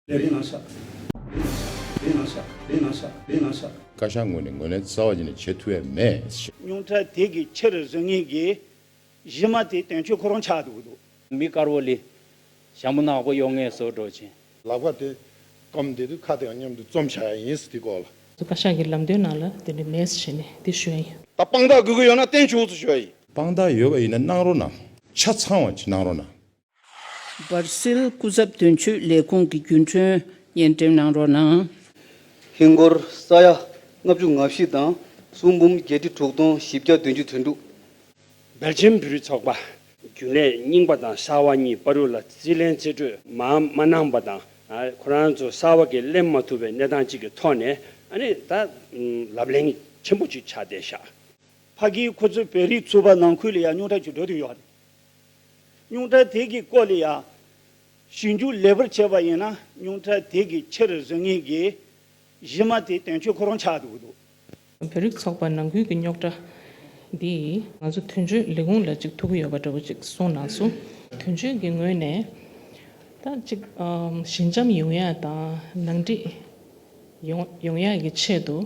བཀའ་ཤག་ངོས་ནས་ངོས་ལེན་རྩ་བ་ཉིད་ནས་བྱེད་ཐུབ་ཡས་མེད། ཉུང་མཐའ་དེ་གི་ཕྱིར་བཟོད་ངེས་ཀྱི། གཞི་མ་དེ་དོན་ཆོས་ཁོ་རང་ཆགས་འདུག་འདུག། མི་དཀར་བོ་ལི། ཞྭ་མོ་ནག་པོ་གཡོག་ངལ་གསོ་སྒྲོག་ཆེན། ལག་པ་དེ། སྐམ་དེ་དུ་ཁ་དེའང་མཉམ་དུ་བཙོམ་བྱ་ཡ་ཡིན་སི་དེ་སྐོར་ལ། བཀའ་ཤག་གི་ལམ་སྟོན་ནང་ལ་དེ་འདྲ་མེད་སི་བྱས་ནས་དེ་ཞུ་ཡ་ཡིན། ད་དཔང་རྟགས་དགོས་ཀྱི་ཡོད་ན་བསྟན་ཆོག་སི་ཞུ་ཡ་ཡིན། དཔང་རྟགས་ཡོད་པ་ཡིན་ན་གནང་རོགས་གནང། ཆ་ཚང་བ་གནང་རོགས་གནང། སྦར་སིལ་སྐུ་ཚབ་དོན་གཅོད་ལས་ཁུངས་ཀྱི་རྒྱུན་གྲོན་སྙན་འགྲེམས་གནང་རོགས་གནང། ཧིན་སྒོར་ས་ཡ་ལྔ་བཅུ་ང་བཞི་དང་སུམ་འབུམ་བརྒྱད་ཁྲི་དྲུག་སྟོང་བཞི་བརྒྱ་བདུན་ཅུ་དོན་དྲུག། སྦེལ་ཇམ་བོད་རིགས་ཚོགས་པ། རྒྱུན་ལས་རྙིང་པ་དང་གསར་བ་གཉིས་པ་རུ་ལ་རྩིས་ལེན་རྩིས་སྤྲོད་མ་མ་གནང་པ་དང། ཁོ་རང་ཚོ་གསར་བ་གི་གླེང་མ་ཐུབ་པའི་གནས་སྟངས་གཅིག་གི་ཐོག་ནས་ཨ་ནི་ད་ལབ་གླེང་ཆེན་པོ་གཅིག་བྱ་བསྡད་ཤག། ཕ་གིའི་ཁོ་ཚོའི་བོད་རིགས་ཚོ་བ་ནང་ཁུལ་ལ་ཡང་རྙོག་དྲ་ཆུ་འགྲོ་དུ་ཡོད། སྙུང་ཁྲག་དེ་གིས་བསྐོལ་ཡང། ཞིང་རྒྱུ་ལེགས་པར་བྱས་པ་ཡིན་ན་སྙུང་ཁྲག་དེ་གིས་ཕྱིར་བཟོད་ངེས་ཀྱི་གཞི་མ་དེ་དོན་འཁྱོལ་ཁོ་རང་ཆགས་འདུག་འདུག། བོད་རིགས་ཚོགས་པ་ནང་ཁུལ་གྱི་རྙོག་དྲ་འདིས་ང་ཚོ་དོན་གཅོད་ལས་ཁུངས་ལ་གཅིག་ཐུག་གི་ཡོད་པ་འདྲ་བོ་ཅིག་གསུངས་ནང་སུ་དོན་གཅོད་ཀྱི་ངོས་ནས་ད་ཅིག་ཞི་འཇམ་ཡོང་ཡ་དང་ནང་འགྲིག་ཡོང་ཡ་གི་ཆེད་དུ་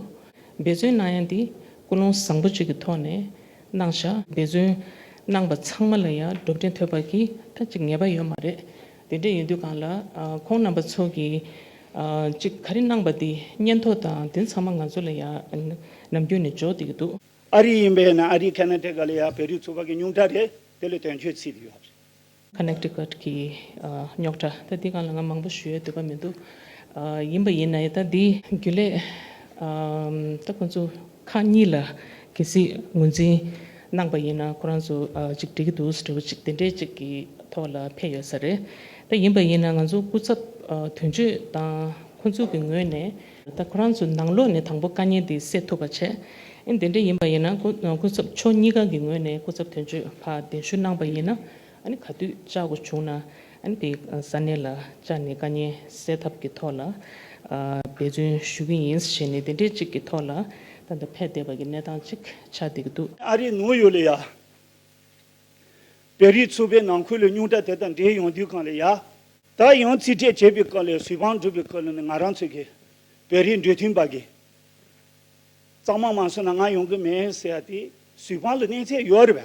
འབད་བརྩོན་གནང་ཡ་འདི་ཀུན་སློང་བཟང་པོ་ཅིག་གི་ཐོག་ནས་གནང་བཞག་འབད་བརྩོན་གནང་པ་ཚང་མ་ལ་ཡང་སྒྲུབ་འབྲས་ཐོབ་པ་གྱིས་ཐ་ཅིག་ངེས་པ་ཡོད་མ་རེད། དེ་འདྲ་ཡིན་དུས་གང་ལ་ཁོང་རྣམ་པ་ཚོ་གིས་ཅིག་ག་རེ་གནང་པ་དེ་སྙན་ཐོ་དང་དེ་ཚང་མ་ང་ཚོ་ལ་ཡང་ནམ་རྒྱུན་ནས་འཇོག་དེ་གི་འདུག། ཨ་རི་ཡིན་པས་ན་ཨ་རིའི་ཁ་ན་དེ་ག་ལ་ཡག་བོད་རིགས་ཚོ་བ་གི་སྙུང་གྲ་རེད་དེ་ལས་དོན་ཆོས་ཚིག་དེ་ཡོད་རེད། Connecticut གི་རྙོག་གྲ་ད་འདི་གང་ལ་ང་མང་པོ་ཞུ་ཡའི་འདོད་པ་མི་འདུག་ཡིན་པ་ཡིན་ན་ད་འདི་རྒྱུ་ལས་ད་ཁོང་ཚོ་ཁག་གཉིས་ལ་གལ་སྲིད་ངོས་འཛིན་གནང་པ་ཡིན་ན་ཁོ་རང་ཚོ་གཅིག་འགྲིག་གི་འདུག་ཟེར་བ་ཅིག་དེ་འདྲའི་ཅིག་གི་ཐོག་ལ་ཕེབས་ཡོད་ས་རེད་ད་ཡིན་པ་ཡིན་ན་ང་ཚོ་སྐུ་ཚབ་དོན་གཅོད་དང་ཁོང་ཚོ་གི་ངོས་ནས། ད་ཁོ་རང་ཚོས་ནང་ལོགས་ནས་དང་པོ་དཀའ་ཉེན་འདི་སེལ་ཐུབ་པ་བྱེད། དེ་འདྲ་ཡིན་པ་ཡིན་ན་སྐུ་ཚབ་མཆོག་གཉིས་ཀ་གི་ངོས་ནས་སྐུ་ཚབ་དོན་གཅོད་ལ་གདན་ཞུ་གནང་པ་ཡིན་ན་ག་དུས་བཅའ་དགོས་བྱུང་ན་དེ་ས་གནས་ལ་བཅའ་ནས་དཀའ་ཉེན་སེལ་ཐབས་ཀྱི་ཐོག་ལ་འབད་བརྩོན་ཞུ་གི་ཡིན་ཞེས་ནས་དེ་འདྲའི་ཅིག་གི་ཐོག་ལ་ད་ལྟ་ཕེབས་བསྡད་པ་གི་གནས་སྟངས་ཅིག་ཆགས་བསྡད་ཀྱི་འདུག། ཨ་རིའི་ནུའུ་ཡོག་ལས་ཡ། བེ་རིའི་ཚོ་པའི་ནང་ཁུལ་ལ་སྙུང་གྲ་དེ་དང་འབྲེལ་ཡོང་དུས་གང་ལས་ཡ། ད་ཡང་རྩིས་སྤྲད་བྱས་པའི་སྐོར་ལས་གཟུ་དཔང་སྒྲུབ་པའི་སྐོར་ལ་ནི་ང་རང་ཚོ་གི་བོད་རིགས་འབྲེལ་མཐུད་པ་གིས་གཙང་མ་མ་བཟོས་ན་ང་ཡོང་གི་མེད་ཟེར་བ་དེ་གཟུ་དཔང་ལ་གནས་ཚད་ཡོད་རེད་བ།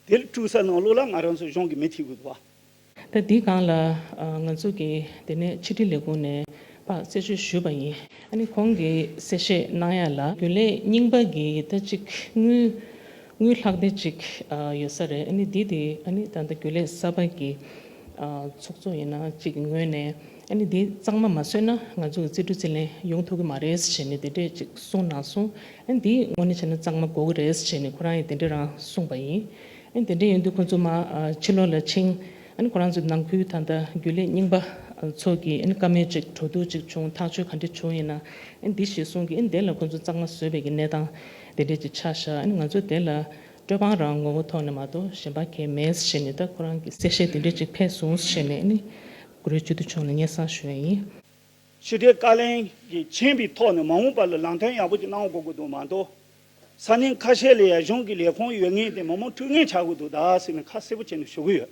དེ་ལ་དཀྲུགས་ས་ནང་ལོགས་ལ་ང་རང་ཚོ་གཞུང་གི་མི་ཐི་གུ་བ། ད་དེའི་སྒང་ལ་ང་ཚོ་གི་དེ་ནས་ཕྱི་དྲིལ་ལས་ཁུངས་ནས་དཔག་བཙལ་བྱོས་ཞུས་པ་ཡིན། ཨ་ནི་ཁོང་གིས་གསལ་བཤད་གནང་ཡག་ལ། རྒྱུན་ལས་རྙིང་པ་གི་ཡི་ད་གཅིག་དངུལ། དངུལ་ལྷག་བསྡད་ཅིག་ཡོད་ས་རེད་ཨཱ་ནི་འདི་དེ་ཨཱ་ནི་ད་ལྟ་རྒྱུ་ལས་གསར་པ་གི་ཚོགས་གཙོ་ཡིན་ན་གཅིག་གི་ངོས་ནས་ཨཱ་ནི་འདི་གཙང་མ་མ་བཟོས་ན་ང་ཚོ་གི་རྩིས་སྤྲོད་རྩིས་ལེན་ཡོང་ཐུབ་གི་མ་རེད་ཟེར་ནས་དེ་འདྲས་ཅིག་གསུངས་གནང་སོང་ཨཱ་ནི་འདི་དངོས་ནས་བྱས་ན་གཙང་མ་གོ་གི་རེད་ཟེར་ནས་ཁོ་རང་ཡིས་དེ་འདྲས་རང་གསུངས་པ་ཡིན་ཨཱ་ནི་དེ་འདྲས་ཡིན་དུས་ཁོ་ཚོ་མ་ཕྱི་ལོག་ལ་ཕྱིན་ཨཱ་ནི་ཁོ་རང་ཚོའི་ནང་ཁུལ་ད་ལྟ་རྒྱུ་ལས་རྙིང་པ་ཚོ་གི་ཨཱ་ནི་བཀའ་མོལ་ཅིག་བྲོ་བརྡུང་ཅིག་བྱུང་ཐག་གཅོད་ག་འདྲས་བྱུང་ཡིན་ན་ཨཱ་ནི་འདི་ཞེས་གསུངས་གི་ཨཱ་ནི་དེ་ལ་ཁོ་ཚོ་གཙང་མ་བཟོས་པའི་གི་གནས་སྟངས་དེ་འབྲེལ་གྱི་ཆ་བཞག་ང་ཚོས་དེ་ལ་སྤྲོད་དཔང་རང་ངོ་བོ་ཐོག་ནས་མ་གཏོགས་གཞན་པ་གས་མེད་ཞེས་ནས་ད་ཁོ་རང་གི་གསལ་བཤད་དེ་འབྲེལ་གྱི་ཕེབས་སོང་ཞེས་ནས་ནི་གུ་རུའི་བཅུད་དུ་ཕྱུང་ནས་སྙན་བསང་ཞུ་ཡས་ཡིན། ཕྱི་དྲིལ་བཀའ་ལན་གྱི་མཆན་པའི་ཐོག་ནས་མ་འོངས་པ་ལ་ལམ་སྟོན་ཡག་པོ་ཅིག་གནང་དགོས་ཀྱི་འདུག་མ་གཏོགས་ས་གནས་ཁ་ཤས་ལ་ཡ་གཞུང་གི་ལས་ཁུངས་ཡོད་ངེས་ཏེ་མི་མང་འཁྲུལ་ངེས་ཆགས་ཀྱི་འདུག་ད་ཟེར་ནས་ཁ་གསལ་པོ་བྱས་ནས་ཞུ་གི་ཡོད།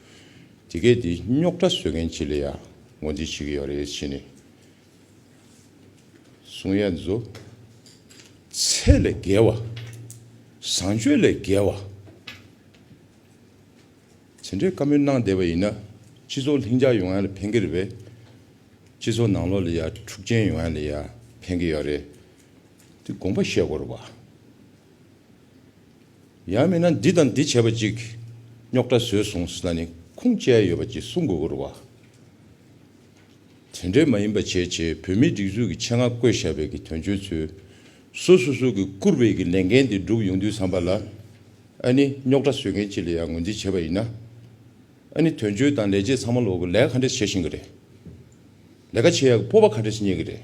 དེ་སྐད་དེ་རྙོག་དྲ་བཟོས་མཁན་གྱི་ལ་ཡ་ངོ་འཛིན་བྱེད་ཀྱི་ཡོད་རེད་བྱས་ནས་གསུང་ཡ་མཛོད། ཚད་ལས་བརྒལ་བ། བཟང་སྤྱོད་ལས་བརྒལ་བ། དེ་འདྲའི་བཀའ་མོལ་གནང་བསྡད་པ་ཡིན་ན་སྤྱི་ཚོགས་ལྷིང་འཇགས་ཡོང་ཡ་ལ་ཕན་གྱི་རེད་བས། སྤྱི་ཚོགས་ནང་ལོག་ལ་ཡ་འཁྲུག་ཅན་ཡོང་ཡ་ལ་ཡ་ཕན་གྱི་ཡོད་རེད་དེ་དགོངས་པ་བཞེས་དགོས་རེད་བ། ཡང་མིན་ན་འདི་དང་འདི་བྱས་པ་གཅིག་རྙོག་དྲ་བཟོས་སོང་ཟེར་ན་ནི་ཁུངས་བཅད་ཡོད་པ་གྱིས་གསུང་དགོས་སྐོར་བ། དེ་འདྲའི་མ་ཡིན་པ་བྱས་རྗེས་བོད་མིའི་སྒྲིག་འཛུགས་ཀྱི་ཆེད་མངགས་བསྐོས་བཞག་བས་ཀྱི་དོན་གཅོད་ཚོས་སོ་སོ་སོ་གྱིས་བསྐུར་བས་ཀྱི་ལས་འགན་དེ་འགྲུབ་ཡོང་དུས་བསམ་པ་ལ། ཨ་ནི་རྙོག་དྲ་བཟོས་མཁན་གཅིག་ལ་ཡང་ངོས་འཛིན་བྱས་པ་ཡིན་ན། ཨ་ནི་དོན་གཅོད་དང་ལས་བྱེད་ཚང་མ་ལོག་གི་ལས་ག་འདྲས་བྱེད་བཞིན་གྱི་རེད། ལས་ཀ་བྱེད་ཡག་གི་སྤོབས་པ་ག་འདྲས་རྙེད་ཀྱི་རེད།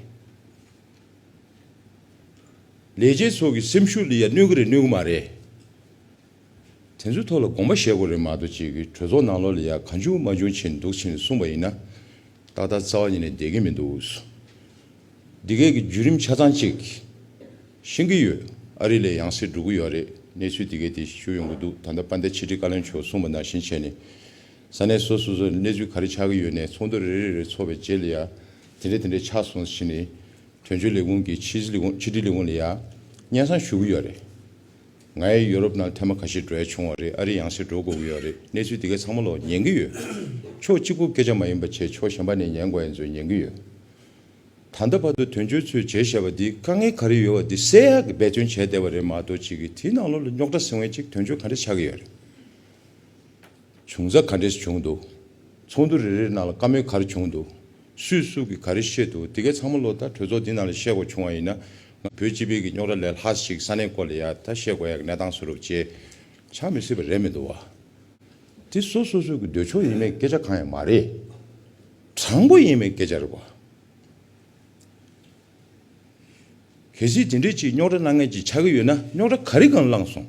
ལས་བྱེད་ཚོ་གི་སེམས་ཤུགས་ལ་ཡང་གནོད་གི་རེད་གནོད་གི་མ་རེད། དེ་ཚོའི་ཐོག་ལ་དགོངས་པ་བཞེས་དགོས་རེད་མ་གཏོགས་ཅིག་གྲོས་ཚོགས་ནང་ལོགས་ལ་ཡང་གང་བྱུང་མ་བྱུང་བྱས་ནས་འདུག་ཕྱིན་ནས་གསུངས་པ་ཡིན་ན། ཏག་ཏག་རྩ་བ་ཉིད་ནས་བསྡད་ཀྱི་མི་འདུག། འདི་སྐད་ཀྱི་བརྒྱུད་རིམ་ཆ་ཚང་ཅིག་ཤེས་ཀྱི་ཡོད། ཨ་རི་ལས་ཡང་སེ་འགྲོ་གི་ཡོད་རེད་གནས་ཚུལ་འདི་སྐད་དེ་ཤུ་ཡོང་གི་འདུག་ད་ལྟ་པ་འདས་ཕྱི་དྲིལ་བཀའ་བློན་མཆོག་གསུངས་པ་ནང་བཞིན་བྱས་ནས། ས་གནས་སོ་སོས་གནས་ཚུལ་ག་རེ་ཆགས་ཀྱི་ཡོད་ནས་ཚོགས་འདུ་རེ་རེ་རེ་ཚོགས་པའི་རྗེས་ལ་ཡང་དེ་འདྲས་དེ་འདྲས་ཆགས་སོང་ཟེར་ནས་དོན་གཅོད་ལས་ཁུངས་ཀྱི་ཕྱི་དྲིལ་ལས་ཁུངས་ལ་ཡང་སྙན་གསང་ཞུ་གི་ཡོད་རེད། ངས་ཡུ་རོབ་ནང་ཐེངས་མ་ག་ཤེད་འགྲོ་ཡ་བྱུང་བ་རེད་ཨ་རི་ཡང་སེ་འགྲོ་དགོས་ཀྱི་ཡོད་རེད་གནས་ཚུལ་དེ་གའི་ཚང་མ་ལོག་ཉན་གྱི་ཡོད། ཕྱོགས་གཅིག་པོ་སྐད་ཆ་མ་ཡིན་པ་ཆེ་ཕྱོགས་གཞན་པ་ནས་ཉན་དགོས་ཡ་མཚོན་ཉན་གྱི་ཡོད། ད་ལྟ་བར་དུ་དོན་གཅོད་ཚོས་བྱས་བྱས་པ་འདི་དཀའ་ངལ་ག་རེ་ཡོད་པ་འདི་གསལ་ཡག་གི་འབད་བརྩོན་བྱས་བསྡད་པ་རེད་མ་གཏོགས་གཅིག་གིས་དེའི་ནང་ལོག་ལ་རྙོག་དྲ་སེལ་བའི་ཅིག་དོན་གཅོད་ག་འདྲས་ཆགས་ཀྱི་ཡོད་རེད། བྱུང་ས་ག་འདྲས་བྱུང་འདུག། ཚོགས་འདུ་རེ་རེའི་ནང་ལ་བཀའ་མོལ་ག་རེ་བྱུང་འདུག། སུས་སུ་གིས་ག་རེ་བཤད་འདུག་དེ་གའི་ཚང་མ་ལོ་ད་གྲོས་ཚོགས་འདི་ནང་ལ་བཤད་དགོས་བྱུང་བ་ཡིན་ན། ང་བོད་སྤྱི་པའི་གི་རྙོག་དྲ་ལས་ལྷག་ཞིག་ས་གནས་སྐོར་ལ་ཡ་ད་བཤད་དགོས་ཡ་གི་གནས་སྟངས་སུ་རུབ་བྱེད་ཆགས་མི་སྲིད་པ་རེད་མི་འདུག་བ། དེ་སོ་སོ་སོའི་གི་འདོད་ཕྱོགས་ཡིན་མེད་སྐད་ཆ་གང་ཡང་མ་རེད། དྲང་པོ་ཡིན་མེད་སྐད་ཆ་རེད་བ། གལ་སྲིད་དེ་འདྲའི་ཆེས་རྙོག་དྲ་སྣ་ངན་ཅིག་ཆགས་ཀྱི་ཡོད་ན་རྙོག་དྲ་ག་རེ་གང་བསླངས་སོང།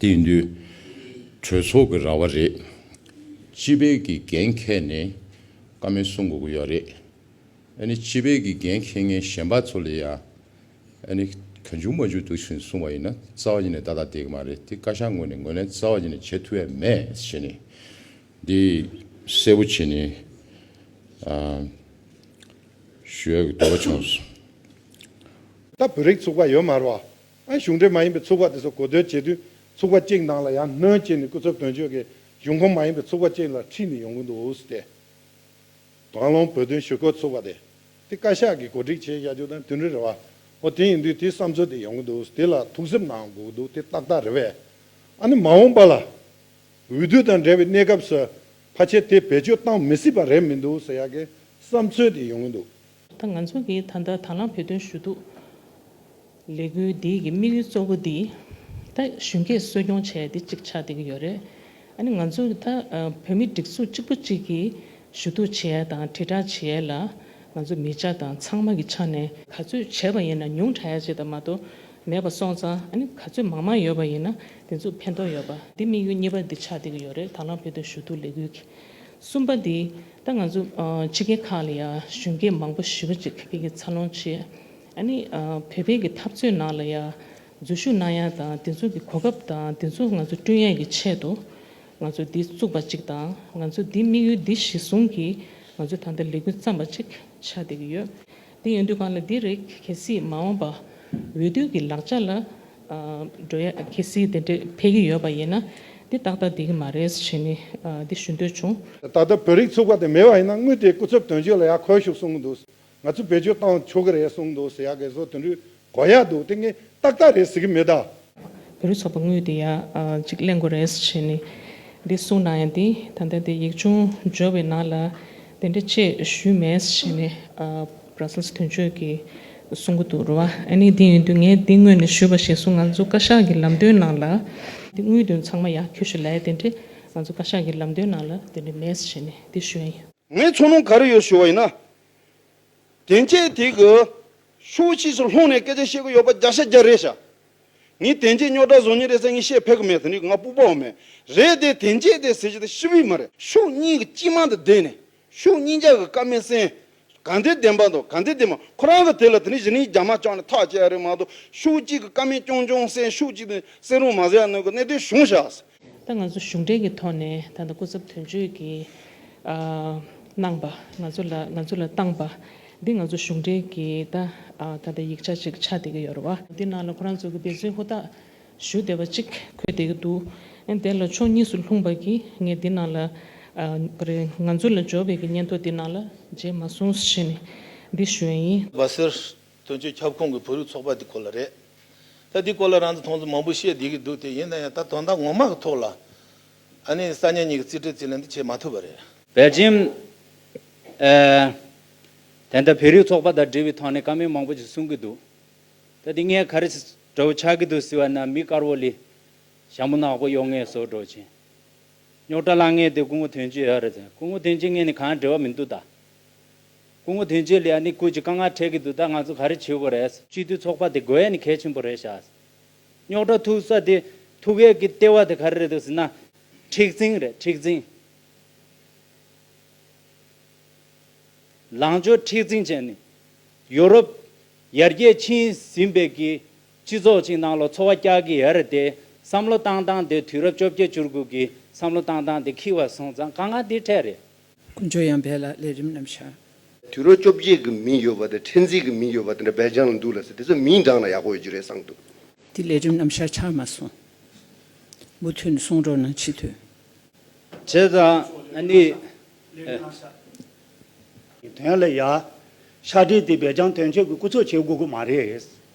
དེ་ཡིན་དུས། གྲོས་ཚོགས་ཀྱི་ར་བ་རེད། སྤྱི་བེད་ཀྱི་འགན་འཁེལ་ནས་ཀ་མེད་གསུང་དགོས་ཀྱི་ཡོད་རེད། ཨ་ནི་སྤྱི་བེད་ཀྱི་འགན་འཁེལ་མཁན་གཞན་པ་ཚོ་ལས་ཡ། ཨ་ནི་ག་འཇུག་མ་འཇུག་དུ་ཕྱིན་གསུང་བ་ཡིན་ན་རྩ་བ་ཉིད་ནས་བདའ་ཐག་བསྡད་ཀྱི་མ་རེད་དེ་བཀའ་ཤག་ངོས་ནས་ངོས་ལེན་རྩ་བ་ཉིད་ནས་བྱེད་ཐུབ་ཡ་མེད་བྱས་ནས་འདི་གསལ་བོ་བྱེད་ནས་ཞུ་ཡ་གི་འདོད་པ་བྱུང། ད་བོད་རིགས་ཚུགས་པ་ཡོད་མ་རེད་བ། གཞུང་འབྲེལ་མ་ཡིན་པའི་ཚོགས་པ་དེ་ཚོ་གོ་བསྡུར་བྱེད་དུས་ཚོགས་པ་གཅིག་ནང་ལ་ཡང་སྣོན་བྱས་ནས་སྐུ་ཚབ་དོན་གཅོད་ཀྱིས་གཞུང་ཁོངས་མ་ཡིན་པའི་ཚོགས་པ་གཅིག་ལ་ཁྲིད་ནས་ཡོང་གི་འདུག་སྟེ། དྭང་བློང་བོད་དོན་ཞུ་སྐོར་ཚོགས་པ་དེ་དེ་བཀའ་ཤག་གིས་གོ་སྒྲིག་བྱས་བཞག་རྒྱུ་དང་དུས་འགྲོའི་རེ་བ་འོ་དེ་ཡིན་དུས་དེའི་བསམ་ཚུལ་དེ་ཡོང་གི་འདུག་དེ་ལ་ཐུགས་གཟིབ་གནང་དགོས་ཀྱི་འདུག་དེ་ཏག་ཏག་རེད་བས། ཨ་ནི་མ་འོངས་པ་ལ། འོས་བསྡུ་དང་འབྲེལ་བའི་གནས་སྐབས་སུ་ཕ་ཆེ་དེ་བེད་སྤྱོད་བཏང་མི་སྲིད་པ་རེད་མི་འདུག་ཟེར་ཡག་གི་བསམ་ཚུལ་དེ་ཡོང་གི་འདུག་ད་ང་ཚོ་གིས་ད་ལྟ་དང་བླངས་བོད་དོན་ཞུ་གཏུག་ལས་འགུལ་འདི་གི་དམིགས་ཡུལ་གཙོ་བོ་འདི་ད་གཞོན་སྐྱེས་གསོ་སྐྱོང་བྱས་ཏེ་ཅིག་ཆགས་བསྡད་ཀྱི་ཡོད་རེད། ཨ་ནི་ང་ཚོ་ད་བོད་མི་སྒྲིག་འཛུགས་གཅིག་པུ་གཅིག་གིས་ཞུ་གཏུག་བྱས་དང་དྲིལ་བསྒྲགས་བྱས་ལ་ང་ཚོ་མི་བྱ་དང་ཚང་མ་གི་ཆ་ནས། ག་ཚོད་བྱས་པ་ཡིན་ན་ཉུང་དྲགས་ཡ་བྱས་དང་མ་གཏོགས་མེད་པ་སོང་ཙང་ཨ་ནི་ག་ཚོད་མང་མང་ཡོད་པ་ཡིན་ན་དེ་ཚོ་ཕན་ཐོགས་ཡོད་པ། འདི་དམིགས་ཡུལ་གཉིས་པ་འདི་ཆགས་བསྡད་ཀྱི་ཡོད་རེད་དང་བླངས་བོད་དོན་ཞུ་གཏུག་ལས་འགུལ་གྱི། གསུམ་པ་འདི་ད་ང་ཚོ་ཕྱི་རྒྱལ་ཁག་ལ་ཡང་གཞོན་སྐྱེས་མང་པོ་ཞི་བ་གཅིག་མཁས་པའི་ཀྱི་འཚར་ལོངས་ཆེད། ཨ་ནི་བོད་པའི་ཀྱི་འཐབ་རྩོད་ནང་ལ་ཡང་འཛུལ་ཞུགས་གནང་ཡ་དང་དེ་ཚོ་ཀྱི་གོ་སྐབས་དང་དེ་ཚོ་ང་ཚོ་བསྐྲུན་ཡ་ཀྱི་ཆེད་དུ་ང་ཚོ་འདི་བཙུགས་པ་གཅིག་དང་ང་ཚོ་འདི་དམིགས་ཡུལ་འདི་གཞི་བཟུང་གིས་ང་ཚོ་ད་ལྟ་ལས་འགུལ་བརྩམས་པ་གཅིག་ཆགས་བསྡད་ཀྱི་ཡོད། དེ་ཡོད་དུས་གང་ལ་དེ་རེག་གལ་སྲིད་མ་འོངས་པ་འོས་བསྡུ་གི་ལག་ཆ་ལ་འགྲོ་ཡ་གལ་སྲིད་དེ་འདྲས་འཕེལ་གྱི་ཡོད་པ་ཡིན་ན་དེ་ཏག་ཏག་དེ་གི་མ་རེད་ཟེར་ནས་དེ་ཞུ་འདོད་བྱུང། ད་ལྟ་བོད་རིགས་ཚུགས་པ་དེ་མེད་པ་ཡིན་ན་དངུལ་དེ་སྐུ་ཚབ་དོན་གཅོད་ལ་ཡར་འཁོལ་ཤོག་གསུང་གི་འདུག་ང་ཚོས་བེད་སྤྱོད་བཏང་ཆོག་གི་རེད་གསུང་གི་འདུག་ཟེར་ཡ་གལ་སྲོལ་དེ་འདྲས་གོ་ཡག་འདུག་དེ་ངས་ཏག་ཏག་རེད་ཟེར་གི་མེད་ད། བོད་རིགས་ཚོགས་པ་དངོས་དེ་ཡག་ཅིག་གླེང་དགོས་རེད་བྱས་ནས་འདི་གསུངས་ན་ཡང་དེ་ད་ལྟ་དེ་ཡིག་ཆུང་འབྱོར་བའི་ནང་ལ་དེ་འདྲ་བཅས་ཞུས་མེད་བྱས་ནས་བར་སེལ་དོན་གཅོད་ཀྱིས་གསུངས་ཀྱི་འདུག་རེད་བ། ཨ་ནི་དེ་ཡིན་དུས་ངས་དེ་དངོས་ནས་ཞུས་པ་བྱས་སོང་ང་ཚོ་བཀའ་ཤག་གི་ལམ་སྟོན་ནང་ལ། དེ་དངོས་དོན་ཚང་མ་ཡག་ཁྱོད་ཞུ་ལེ་དེ་འདྲ་ང་ཚོ་བཀའ་ཤག་གི་ལམ་སྟོན་ནང་ལ་དེ་འདྲ་མེད་བྱས་ནས་དེ་ཞུས་ཡིན། ངས་མཚོ་ནུ་ག་རེ་ཡོད་ཞུ་བ་ཡིན་ན། དེ་འཆད་དེ་གི། ཤུགས་ཕྱིས་སུ་ལྷུང་ནས་སྐད་ཆ་བཤད་གི་ཡོད་པ་རྒྱག་ཤ་རྒྱག་རེད་ཤ། ངས་དེ་འཆད་རྙོག་དྲ་བཟོ་ཉེན་རེད་ས་ངས་བཤད་ཕེབས་གི་མེད་ས་ནི་ང་སྤུག་པའོ་མེད། རེད་དེ་དེ་འཆད་དེ་ཟེར་གྱི་དེ་ཤི་བི་མ་རེད། ཤུགས་གཉིས་གི་སྤྱི་དམངས་དང་བསྡད་ནས་ཤུགས་གཉིས་ཅག་གི་བཀའ་མི་སེང། ག་འདི་བདེན་པ་འདུག་ག་འདི་བདེན་པ་ཁོ་རང་གི་དེ་ལ་དེ་ནི་གཞི་ནི་རྒྱ་དམར་ཅག་ནས་ཐག་བཅད་ཡ་རེད་མ་གཏོགས་ཤུགས་གཅིག་གི་བཀའ་མི་སྐྱོང་སྐྱོང་སེང་ཤུགས་གཅིག་དེ་སེང་རུང་མ་ཟེར་ཡ་གནོད་གི་གནད་དོན་གཞུང་ཞགས་སེ། ད་ང་ཚོ་གཞུང་འབྲེལ་གྱི་ཐོག་ནས་ད་ལྟ་སྐུ་ཚབ་དོན་གཅོད་ཀྱིས་གནང་པ་ང་ཚོ་ལ་ང་ཚོ་ལ་བཏང་པ་འདི་ང་ཚོ་གཞུང་འབྲེལ་གྱི་ད་ད་ལྟ་ཡིག་ཆ་ཅིག་ཆགས་བསྡད་ཀྱི་ཡོད་རེད་བ། འདི་ནང་ལ་ཁོ་རང་ཚོ་གི་འབད་བརྩོན་ཧུར་ཐག་ཞུ་བསྡད་པ་ཅིག་འཁོད་བསྡད་ཀྱི་འདུག་ཨེ་དེ་ལ་ཕྱོགས་གཉིས་སུ་ལྷུང་བར་གྱིས་ངས་འདི་ནང་ལ་ཀ་རེ་ང་ཚོ་ལ་འབྱོར་བའི་གྱི་སྙན་ཐོ་འདི་ནང་ལ་མཇལ་མ་སོང་ཞེས་ནས་འདི་ཞུ་ཡ་ཡིན། བ་ཟེར། དོན་གཅོད་ཁྱབ་ཁོངས་ཀྱི་བོད་རིགས་ཚོགས་པ་དེ་ཁོ་ལ་རེད། ད་དེའི་སྐོར་ལ་རང་ཚོ་མཐོང་ཚུལ་མང་པོ་བཤད་བསྡད་ཀྱི་འདུག་དེ་ཡིན་ན་ཡང་ད་དོན་དག་ངོ་མ་གི་ཐོག་ལ་ཨ་ནེ་ས་གཉིས་གཉིས་ཀྱི་རྩིས་ཁྲའི་རྩིས་ལེན་དེ་བྱེད་མ་ཐུབ་པ་རེད། བའི་རྗེས། ད་ལྟ་བོད་རིགས་ཚོགས་པ་དང་འབྲེལ་བའི་ཐོག་ནས་བཀའ་མོལ་མང་པོ་ཞིག་གསུང་གི་འདུག་ད་དེ་ངས་ག་རེ་འདྲ་བོ་ཆགས་ཀྱི་འདུག་ཟེར་བ་ན་མི་དཀར་བོ་ལས་ཞྭ་མོ་ནག་པོ་གཡོག་ངའི་སོར་འགྲོ་ཆེན་རྙོག་དྲ་ལ་ངས་དེ་སྐུ་ངོ་དོན་གཅོད་ཨ་རེད་ཟེར་སྐུ་ངོ་དོན་གཅོད་ངས་ནི་གང་ཡང་འབྲེལ་བ་མི་འདུག་ད། སྐུ་ངོ་དོན་གཅོད་ལ་ཡང་ནི་སྐུ་གཅིག་དཀའ་ངལ་འཕྲད་ཀྱི་འདུག་ད་ང་ཚོ་ག་རེ་བྱེད་དགོས་རེད། སྤྱི་འཐུས་ཚོགས་པ་དེ་དགོས་ཡས་ནི་གལ་ཆེན་པོ་རེད་ཤག། རྙོག་དྲ་ཐུག་ས་དེ་ཐུག་ཡས་ཀྱི་ལྟེ་བ་དེ་ག་རེ་རེད་འདུག་ཟེར་ན། མཁྲེགས་འཛིན་རེད་མཁྲེགས་འཛིན། ལངས་ཕྱོགས་མཁྲེགས་འཛིན་ཅན་ནི། ཡོ་རོབ། ཡར་རྒྱས་ཕྱིན་ཟིན་པའི་ཀྱི། སྤྱི་ཚོགས་ཅིག་ནང་ལོ་འཚོ་བ་སྐྱག་གི་ཡ་རེད་དེ། བསམ་བློ་བཏང་བཏང་དེ་དུས་རབས་བཅོ་བརྒྱད་བཅུར་གུག་གི་བསམ་བློ་བཏང་བཏང་དེ་འཁྱིལ་བ་སོང་ཙང་དཀའ་ངལ་འདི་འཕྲད་རེད། ཀུན་སྤྱོད་ཡང་འབད་ལ་ལས་རིམ་རྣམས་བྱ། དུས་རབས་བཅོ་བརྒྱད་ཀྱི་མིང་ཡོད་པ་དང་ཕྲན་ཚེགས་ཀྱི་མིང་ཡོད་པ་དེ་འདྲ་སྦས་རྐྱང་ལ་འདུག་ལ་ཟེར་དེ་ཚོ་མིང་བགྲངས་ན་ཡག་པོ་ཡོད་ཀྱི་རེད་བསམ་འདུག། དེ་ལས་རིམ་རྣམས་ཤར་ཆགས་མ་སོང། མུ་མཐུད་ནས་གསུང་རོགས་གནང་ཕྱི་དོན། བྱས་ཙང་ནི། དོན་ལ་ཡ། ཤར་འདྲེས་དེ་སྦས་རྐྱང་དོན་གཅོད་ཀྱི་སྐུ་ཚོགས་བྱེད་དགོས་ཀྱི་མ་རེད།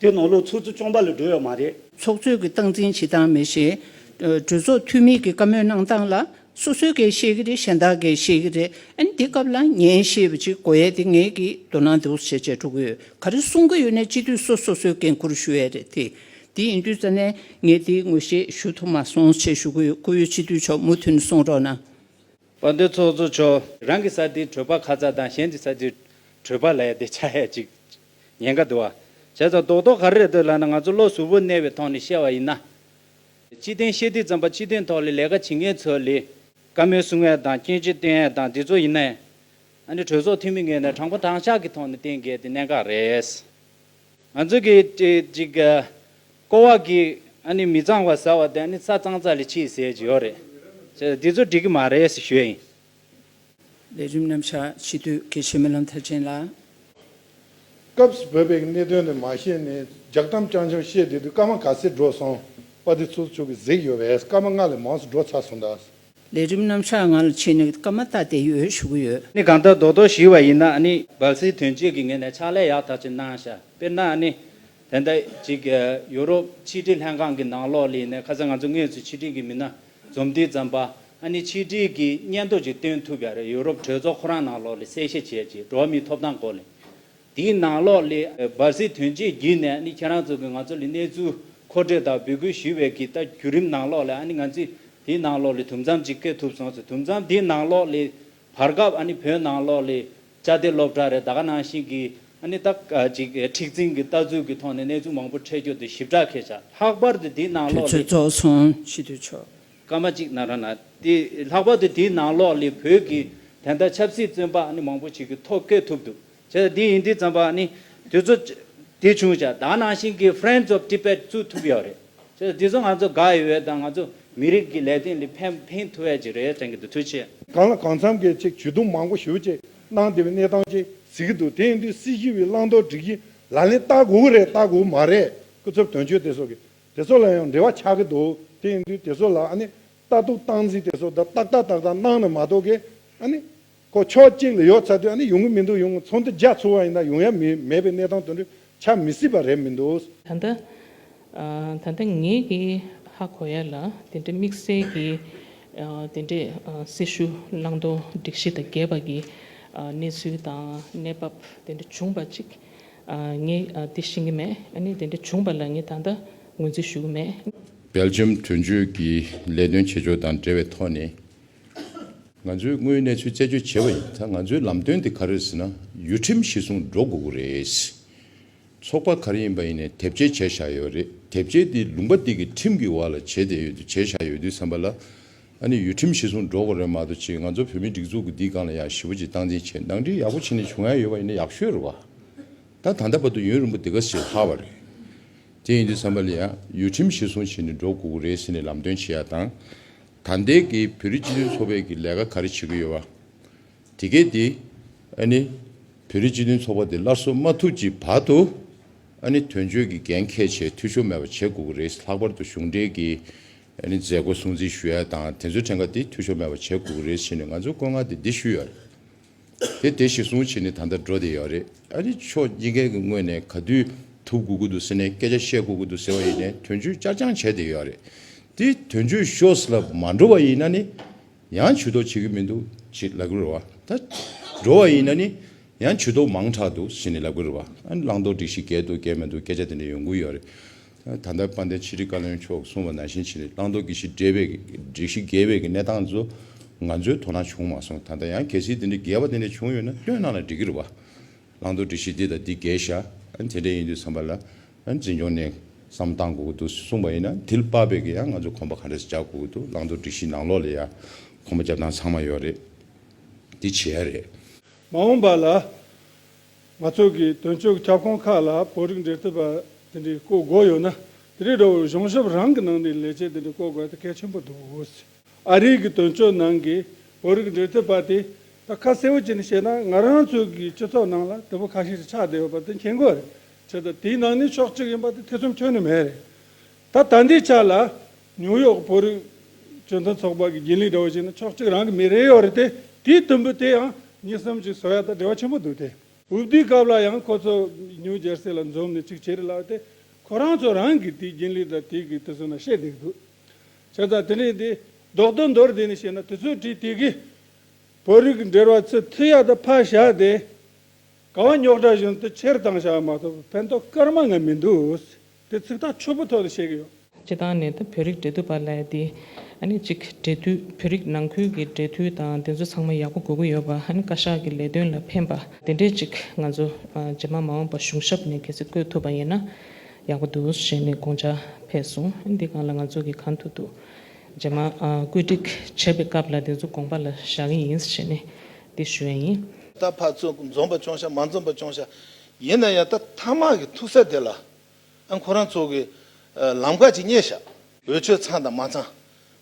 དེ་ནང་ལོགས་ཚུར་ཚུར་གཅོང་པ་ལ་སྒྲོལ་ཡོད་མ་རེད། ཚོགས་གཙོས་ཀྱི་སྟངས་འཛིན་བྱེད་སྟངས་མེད་ཞེས། གྲོས་ཚོགས་འཐུས་མིས་ཀྱི་བཀའ་མོལ་གནང་སྟངས་ལ། སོ་སོས་འགལ་བཤད་ཀྱི་རེད་གཞན་དག་འགལ་བཤད་ཀྱི་རེད་ཨ་ནི་འདི་སྐབས་ལ་ཉན་ཤེས་པ་ཅིག་དགོས་ཡ་དེ་ངེད་ཀྱིས་མདོར་ན་འདི་འོ་བྱེད་བྱེད་འགྲོ་གི་ཡོད་ག་རེ་གསུང་གི་ཡོད་ནས་སྤྱི་འཐུས་སོ་སོ་སོས་འགན་ཁུར་ཞུ་ཡ་རེད་དེ། དེ་ཡིན་དུས་ཙ་ནས་ངས་དེའི་ངོས་བཤད་ཞུ་ཐུབ་མ་སོང་བྱེད་ཞུ་གི་ཡོད་ཁོ་བོས་སྤྱི་འཐུས་མཆོག་མུ་མཐུད་ནས་གསུང་རོགས་གནང། བ་འདི་ཚོགས་གཙོ་མཆོག། རང་གི་ས་དེའི་གྲོད་པ་ཁ་ཚ་དང་གཞན་གྱི་ས་དེའི་གྲོད་པ་ལ་ཡ་དེ་ཆ་ཡ་ཅིག་ཉེན་ཁ་བསྡུ་བ། བྱས་ཙང་རྡོག་རྡོག་ག་རེ་རེད་འདོད་ལབ་ན་ང་ཚོ་བློ་གཟུ་བོ་གནས་བའི་ཐོག་ནས་བཤད་བ་ཡིན་ན། སྤྱི་དོན་བཤད་དུས་ཙམ་པ་སྤྱི་དོན་ཐོག་ལས་ལས་ཀ་བྱེད་མཁན་ཚོ་ལས་ཀ་མོལ་སུ་ངལ་དང་སྐྱོན་ཅི་སྟོན་ཨེ་དང་འདི་ཚོ་ཡིན་ན། ཨ་ནི་གྲོས་ཚོགས་འཐུས་མི་ངོས་ནས་དྲང་པོ་དྲང་ཤག་གི་ཐོག་ནས་བསྟེན་དགོས་དེ་གནད་འགག་རེད། ང་ཚོ་གི་ཅིག། ཀོ་བ་གི་ཨ་ནི་མི་གཙང་བ་ཟེར་བ་དེ་ཨ་ནི་ས་གཙང་ཙག་ལས་ཕྱིས་ཟེར་གྱི་ཡོད་རེད། བྱས་ཙང་འདི་ཚོ་འགྲིག་གི་མ་རེད་ཞེས་ཞུས་ཡིན། ལས་རིམ་རྣམ་གཞག་ཕྱི་དུས་དགེ་བཤེས་རྨི་ལམ་མཐར་ཕྱིན་ལ། སྐབས་བོད་པའི་གནད་དོན་དེ་མ་ཤེས་ནས་རྒྱག་གཏམ་རྐྱང་རྐྱང་བཤད་བསྡད་དུས་སྐར་མ་ག་ཚད་འགྲོ་སོང་པ་དེ་ཚོ་ཆུ་གི་གཟེགས་ཡོད་པས་སྐར་མ་ལྔ་ལས་མང་སུ་འགྲོ་ཚར་སོང་གདའ། ལས་རིམ་རྣམ་གཞག་ང་ལ་ཕྱིན་ནས་སྐར་མ་བཏགས་བསྡད་ཡོད་ཞུ་གི་ཡོད། ནི་གང་ལྟར་རྡོག་རྡོག་ཞུས་བ་ཡིན་ན་ནི། སྦལ་སིལ་དོན་གཅོད་ཀྱི་ངོས་ནས་ཕྱག་ལས་ཡག་ཐག་ཆོད་གནང་ཞར་དཔེར་ན་ནི། དེ་འད་ཅིག་ཡུ་རོབ་ཕྱི་དྲིལ་ལྷན་ཁང་གི་ནང་ལོགས་ལི་ནས་ཁ་ས་ང་ཚོ་དངོས་སུ་ཕྱི་དྲིལ་གྱི་མི་སྣ་རྩོམ་འདི་བརྩམས་པ་ཨ་ནི་ཆིས་ཀྲིས་ཀྱིས་སྙན་ཐོ་ཅིག་སྟོན་ཐུབ་ཡ་རེད་ཡུ་རོབ་གྲོས་ཚོགས་ཁོ་རང་ནང་ལོགས་ལས་གསལ་བཤད་བྱས་རྗེས་འགྲོ་བ་མིའི་ཐོབ་ཐང་སྐོར་ལས་དེའི་ནང་ལོགས་ལས་བར་སྲིད་དོན་བཅས་བརྒྱུད་ནས་ཨ་ནི་ཁྱེད་རང་ཚོ་གིས་ང་ཚོ་ལས་གནས་ཚུལ་མཁོ་སྤྲོད་དང་འབོད་སྐུལ་ཞུས་བའི་གི་ད་བརྒྱུད་རིམ་ནང་ལོགས་ལས་ཨ་ནི་ང་ཚོས་དེའི་ནང་ལོགས་ལས་དུམ་མཚམས་ཅིག་བཀལ་ཐུབ་སོང་ཟེར་དུམ་མཚམས་དེའི་ནང་ལོགས་ལས་བར་སྐབས་ཨ་ནི་བོད་ནང་ལོགས་ལི་བཅའ་སྡེ་སློབ་གྲྭ་རེད་ད་ག་ནང་བཞིན་གི་ཨ་ནི་ད་ག་ཅིག་མཁྲེགས་འཛིན་གི་ལྟ་ཚུལ་གི་ཐོག་ནས་གནས་ཚུལ་མང་པོ་འཕྲད་རྒྱུ་དེ་ཞིབ་ཕྲ་ཁས་བྱ་ལྷག་པར་དུ་དེའི་ནང་དུས་ལོགས་ཚོད་ལི། རྫོགས་སོང་ཕྱི་དུས་ཆོག། སྐར་མ་གཅིག་ན་ར་ན་དེ་ལྷག་པར་དུ་དེའི་ནང་ལོགས་ལི་བོད་ཀྱི་དན་ད་ཆབ་སྲིད་བཙོན་པ་ཨ་ནི་མང་པོ་ཞིག་གི་ཐོག་བཀལ་ཐུབ་འདུག་བྱས། འདི་ཡིན་འདི་བརྩམས་པ་ནི་དུས་ཚོད་དེ་བྱུང་ཆ་ད་ནང་བཞིན་གྱི Friends of Tibet བཙུགས་ཐུབ་ཡོད་རེད། བྱས། འདི་ཚོ་ང་ཚོ་དགའ་ཡོད་དང་ང་ཚོ་མི་རིགས་ཀྱི་ལས་དོན་ལས་ཕན་ཕན་ཐོགས་ཡས་ཅིག་རེད་དྲན་གྱི་འདུག་ཐུགས་ཆེ། གང་ལ་གང་འཚམ་གྱི་ཅིག་ཇུས་གཏོང་མང་པོ་ཞུ་ཅིག་གནང་དེ་བས་གནས་སྟངས་ཅིག་གཟིགས་ཀྱི་འདུག་དེ་ཡིན་དུས་སྲིད་ཞི་བའི་བླང་དོར་སྒྲིག་གཞི་ལག་ལེན་བསྟར་དགོས་ཀྱི་རེད་བསྟར་དགོས་ཀྱི་མ་རེད་སྐུ་ཚབ་དོན་གཅོད་དེ་སོགས་ཀྱི་དེ་སོགས་ལ་ཡང་འབྲེལ་བ་ཆགས་ཀྱི་འདུག་དེ་ཡིན་དུས་དེ་སོགས་ལ་ཨ་ནི་ལྟ་རྟོག་སྟངས་འཛིན་དེ་སོགས་ད་ཏག་ཏག་ཏག་ཏག་གནང་ནས་མ་གཏོགས་ཀྱི་ཨ་ནི་ཁོ་ཕྱོགས་གཅིག་ལ་ཡོད་ཚ་དུས་ནི་ཡོང་གི་མི་འདུག་ཡོང་ཚོང་འདུ་རྒྱག་ཚུལ་བ་ཡིན་ན་ཡོང་ཡ་མེད་པའི་གནས་སྟངས་དུ་འདྲི་ཆ་མི་སྲིད་པ་རེད་མི་འདུག། ད་ལྟ། ད་ལྟ་ངེད་ཀྱིས་ཧ་གོ་ཡ་ལ་དེ་འདྲའི་དམིགས་བསལ་གྱི་དེ་འདྲའི་སྲི་ཞུ་བླང་དོར་སྒྲིག་གཞི་དང་འགལ་བ་གྱི་གནས་ཚུལ་དང་གནས་བབ་དེ་འདྲ་བྱུང་བ་ཅིག་ངས་དེ་ཤེས་ཀྱི་མེད་ཨ་ནི་དེ་འདྲ་བྱུང་བ་ལ་ངས་ད་ལྟ་ངོས་འཛིན་ཞུ་གི་མེད། སྦེལ་ལྗམ་གྲོས་མཇུག་གི་ལས་དོན་བྱེད་ཕྱོགས་དང་འབྲེལ་བའི་ཐོག་ནས། ང་ཚོས་དངོས་ཡོད་གནས་ཚུལ་རྩད་གཅོད་བྱེད་པ་ཡིན་ད་ང་ཚོའི་ལམ་སྟོན་དེ་ག་རེ་རེད་ཟེར་ན་ཡུལ་ཁྲིམས་གཞི་བཟུང་འགྲོ་དགོས་ཀྱི་རེད། ཚོགས་པ་ག་རེ་ཡིན་པ་ཡིན་ནས་དེབ་སྐྱེལ་བྱས་བཞག་ཡོད་རེད་དེབ་སྐྱེལ་དེ་ལུང་པ་འདི་གི་ཁྲིམས་ཀྱི་བར་ལ་བྱས་བསྡད་ཡོད་དུས་བྱས་བཞག་ཡོད་དུས་བསམ་པ་ལ། ཨ་ནི་ཡུལ་ཁྲིམས་གཞི་བཟུང་འགྲོ་དགོས་རེད་མ་གཏོགས་ཆེད་ང་ཚོ་བོད་མིའི་སྒྲིག་འཛུགས་ཀྱི་འདི་སྒང་ལ་ཡང་ཞི་བ་ཅིག་སྟངས་འཛིན་བྱེད་འདང་འདྲིས་ཡག་པོ་བྱེད་ནས་བྱུང་ཡ་ཡོད་པ་ཡིན་ན་ཡག་ཤོས་རེད་བ། ད་ད་ལྟ་བར་དུ་ཡུན་རིང་པོ་དེ་ག་ཟེར་ཧ་བ་རེད། དེ་ཡིན་དུས་བསམ་པ་ལ་ཡང་ཡུལ་ཁྲིམས་གཞི་བཟུང་བྱེད་ནས་འགྲོ་དགོས་ཀྱི་རེད་ཟེར་ནས་ལམ་སྟོན་བྱས་ཡ་དང། ད་ལྟའི་གི་བོད་རིགས་སྤྱི་མཐུན་ཚོགས་པས་གི་ལས་ཀ་ག་རེ་བྱེད་གི་ཡོད་བ། དེ་གས་དེ་ཨ་ནི་བོད་རིགས་སྤྱི་མཐུན་ཚོགས་པ་དེ་སླར་གསོ་མ་ཐུབ་ཀྱི་བར་དུ་ཨ་ནི་དོན་གཅོད་གི་འགན་ཁས་བྱས་འཐུས་ཤོར་མེད་པ་བྱེད་དགོས་གི་རེད་ལྷག་པར་དུ་གཞུང་འབྲེལ་གི་ཨ་ནི་མཛད་སྒོ་སྲུང་བརྩི་ཞུ་ཡ་དང་དེ་ཚོའི་ཕྲན་ཁ་དེ་འཐུས་ཤོར་མེད་པ་བྱེད་དགོས་གི་རེད་བྱས་ནས་ང་ཚོས་བཀོད་མངགས་དེ་འདི་ཞུས་ཡོད། དེ་དེ་ཞེས་གསུངས་བྱས་ནས་ད་ལྟ་འགྲོ་བསྡད་ཡོད་རེད། ཨ་རི་ཕྱོགས་སྐྱེ་མཁན་གྱི་དངོས་ནས་ག་དུས་ཐུག་དགོས་ཀྱི་འདུག་ཟེར་ནས་སྐད་ཆ་བཤད་དགོས་ཀྱི་འདུག་ཟེར་བ་ཡིན་ནས་དོན་གཅོད་བསྐྱར་སྦྱང་བྱས་བསྡད་ཡོད་རེད། དེ་དོན་གཅོད་ཤོས་ལ་མ་འགྲོ་བ་ཡིན་ན་ནི་ཡང་བྱུས་གཏོགས་བྱེད་ཀྱི་མི་འདུག་ཅེས་ལབ་ཀྱི་རེད་བ། ད་འགྲོ་བ་ཡིན་ན་ནི་ཡང་བྱུས་གཏོགས་མང་དྲགས་འདུག་ཟེར་ནས་ལབ་ཀྱི་རེད་བ། བླང་དོར་སྒྲིག་གཞི་འགལ་འདུག་འགལ་མི་འདུག་སྐད་ཆ་དེ་འདྲ་ཡོང་གི་ཡོད་རེད། ད་ལྟར་དཔལ་ལྡན་ཕྱི་དྲིལ་བཀའ་བློན་མཆོག་གསུང་བ་ནང་བཞིན་བྱས་ནས་བླང་དོར་གྱི་ཞི་འགལ་བའི་གནས་སྟངས་ཚོ་ང་ཚོའི་དོ་སྣང་བྱུང་མ་སོང་ད་ལྟ་ཡང་གལ་སྲིད་དེ་འདྲའི་འགལ་བ་དེ་འདྲ་བྱུང་ཡོད་ན་བཏོན་གནང་ལ་འགྲིག་གི་རེད་བ། བླང་དོར་འདྲི་གཞི་འདི་དང་འདི་འགལ་བཞག་དེ་འདྲ་ཡིན་དུས་བསམ་པ་ལ་འཛིན་སྐྱོང་ནས་བསམ་བཏང་དགོས་ཀྱི་འདུག་གསུང་པ་ཡིན་ན་དེ་ལ་དཔག་པའི་གི་ཡང་ང་ཚོ་གོམ་པ་ག་འདྲ་ཞིག་རྒྱག་དགོས་ཀྱི་འདུག་བླང་དོར་འདྲི་གཞི་ནང་ལོགས་ལ་ཡང་གོམ་པ་རྒྱབ་སྟངས་ཚང་མ་ཡོད་རེད་དེ་བྱེད་ཡ་རེད། མ་འོངས་པ་ལ་ང་ཚོ་གི་དོན་གཅོད་ཀྱི་ཁྱབ་ཁོངས་ཁག་ལ་བོད་རིགས་འབྲེལ་མཐུད་པ་དེ་འདྲའི་བསྐོ་དགོས་ཡོད་ན་དེ་རིགས་འདྲ་བོ་གཞུང་ཞབས་རང་གི་ནང་ནས་ལས་བྱེད་དེ་འདྲ་བསྐོ་དགོས་ཐ་གལ་ཆེན་པོ་འདུག་ཨ་རིའི་གི་དོན་གཅོད་ནང་གི་བོད་རིགས་འབྲེལ་མཐུད་པ་དེ་ད་ཁ་གསལ་བོ་བྱས་ནས་བཤད་ན་ང་རང་ཚོའི་གི་སྤྱི་ཚོགས་ནང་ལ་དེ་བོ་ཁ་ཤས་ཤིག་ཆགས་བསྡད་ཡོད་པ་དེ་མཁྱེན་དགོས་རེད་དེ་ད་དེའི་ནང་ནས་ཕྱོགས་གཅིག་ཡིན་པ་དེ་ཐེ་ཚོམ་ཁྱོན་ནས་མེད་རེད་ད་ལྟ་འདི་ཆ་ལ་ཉུའུ་ཡོག་བོད་རིགས་སྤྱི་མཐུན་ཚོགས་པ་གི་དགེ་ལུགས་འདྲ་བོ་ཞིག་ནི་ཕྱོགས་གཅིག་རང་གི་མི་རེ་ཡོད་རེད་དེ་དེའི་དུམ་བུ་དེ་ཡང་གཉིས་གསུམ་ཅིག་བཟོ་ཡ་ད་བྲེལ་བ་ཆེན་པོ་འདུག་དེ། འོས་བསྡུའི་སྐབས་ལ་ཡང་ཁོ་ཚོ་ཉུའུ་ཇར་སི་ལ་འཛོམས་ནས་ཅིག་བྱེད་རེད་ལབ་དེ་ཁོ་རང་ཚོ་རང་གི་དེའི་རྒྱུན་ལས་དང་དེའི་གི་དེ་ཚོ་ན་བཤད་བསྡད་འདུག་བྱས་ཙང་དེ་འདྲའི་དེ་ལྡོག་ཏུ་འདོར་བསྡད་ནས་བཤད་ན་དེ་ཚོའི་གྲས་དེ་གི་བོད་རིགས་འདྲེར་བ་ཚོས་མཐུ་ཡ་ད་ཕར་བཞག་དེ་ག་བ་ཉོག་དྲ་བཞིན་དུ་ཁྱེར་བཏང་བཞག་མ་ཐུབ་ཕན་ཐོག་སྐར་མ་ང་མི་འདུག་དེ་ཚིག་ཐག་ཆོད་པོ་ཐོག་ཏུ་བཤད་ཀྱི་ཡོད། སྤྱི་བཏང་ནས་ད་བོད་རིགས་འབྲེལ་མཐུད་པ་ལས་དེ་གཉིས་གཅིག་འབྲེལ་མཐུད་བོད་རིགས་ནང་ཁུལ་གྱི་འབྲེལ་མཐུད་དང་དེ་ཚོ་ཚང་མ་ཡག་པོ་དགོས་ཀྱི་ཡོད་པ་བཀའ་ཤག་གི་ལས་དོན་ལ་ཕན་པ་དེ་འདྲས་གཅིག་ང་ཚོ་རྗེས་མ་མ་འོངས་པ་གཞུང་ཞབས་ནས་གལ་སྲིད་བསྐོས་ཐུབ་པ་ཡིན་ན་ཡག་པོ་འདུག་ཞེས་ནས་དགོངས་འཇགས་འཕེལ་སོང་དེ་གང་ལ་ང་ཚོ་གི་གང་ཐུབ་ཐུབ་རྗེས་མ་བཀོད་སྒྲིག་བྱེད་པའི་སྐབས་ལ་དེ་ཚོ་དགོངས་པ་ལ་བཞག་གི་ཡིན་ཞེས་ནས་དེ་ཞུ་བ་ཡིན། ད་བར་ཚོ་འཛོམས་པ་ཅུང་ཤ་མ་འཛོམས་པ་ཅུང་ཤ་ཡིན་ན་ཡང་ད་ཐ་མག་གི་ཐུག་ས་དེ་ལ་ཨ་ཁོ་རང་ཚོ་གི་ལམ་ཁ་ཅིག་རྙེད་ཤག། འོས་ཆོས་ཚང་དང་མ་ཚང།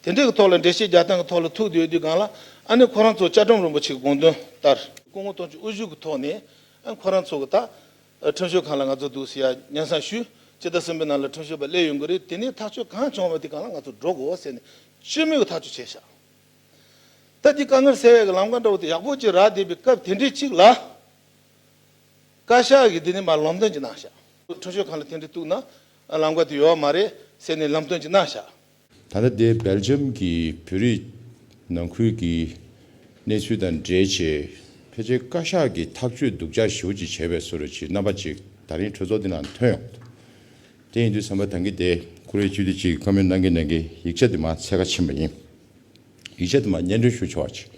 དེ་འདྲའི་གི་ཐོག་ལ་འགྲེལ་བཤད་རྒྱག་སྟངས་གི་ཐོག་ལ་ཐུག་དེ་ཡོད་དུས་སྒང་ལ་ཨ་ནི་ཁོ་རང་ཚོ་ལྕགས་སྒྲོམ་རིན་པོ་ཆེ་གི་དགོངས་དོན་ལྟར། སྐུ་ངོ་སྟོང་ཆུ་དབུ་བཞུགས་གི་ཐོག་ནས་ཨ་ཁོ་རང་ཚོ་གི་ད་ཁྲིམས་ཞོལ་ཁང་ལ་ང་ཚོ་འདུག་ཟེར་ཡ་ཉན་སང་ཞུས་ཅི་ད་སྲིན་པོའི་ནང་ལ་ཁྲིམས་ཞོལ་པ་སླེབས་ཡོང་གི་རེད་དེ་ནས་ཐག་ཆོད་གང་བྱུང་བ་དེ་སྒང་ལ་ང་ཚོ་འགྲོ་དགོས་ཟེར་ནས་བཅོས་མིན་གི་ཐག་ཆོད་བྱས་ཤག། ད་འདི་དཀའ་ངལ་སེལ་བའི་གི་ལམ་ཁ་འདྲ་བོ་དེ་ཡག་པོ་ཅིག་རག་བསྡད་པའི་སྐབས་དེ་འདྲའི་ཅིག་ལ། བཀའ་ཤག་གིས་འདི་ནི་མར་ལམ་སྟོན་གྱི་གནང་བཤགས། ཁྲོ་ཤོད་ཁང་ལ་ཐེངས་འདྲི་གཏུགས་ན་ལམ་ཀ་དེ་ཡོད་བ་མ་རེད་ཟེར་ནས་ལམ་སྟོན་གྱི་གནང་བཤགས། ད་ལྟ་དེ་སྦེལ་ཇམ་གྱི་བོད་རིགས་ནང་ཁུལ་གྱི་གནས་ཚུལ་དང་འབྲེལ་བྱས་ཕལ་ཆེར་བཀའ་ཤག་གིས་ཐག་གཅོད་སྡུག་ཅག་ཞིབ་བོ་ཅིག་བྱས་པའི་སུ་རེད་ཅེས་རྣམ་པ་གཅིག་ད་རིང་གྲོས་ཚོགས་འདི་ནང་ཐོན་ཡོང་གི་འདུག་དེ་ཡིན་དུས་བསམ་པ་དང་གི་དེ་ཁོ་རེ་བཅུ་དེ་གཅིག་ཁ་མོས་གནང་གི་གནང་གི་ཡིག་ཆ་དེ་མ་ཚད་ཁ་ཕྱིན་པ་ཡིན། ཡིག་ཆ་དུ་མ་སྙན་སྒྲོན་ཞུ་ཆོག་ཅིག།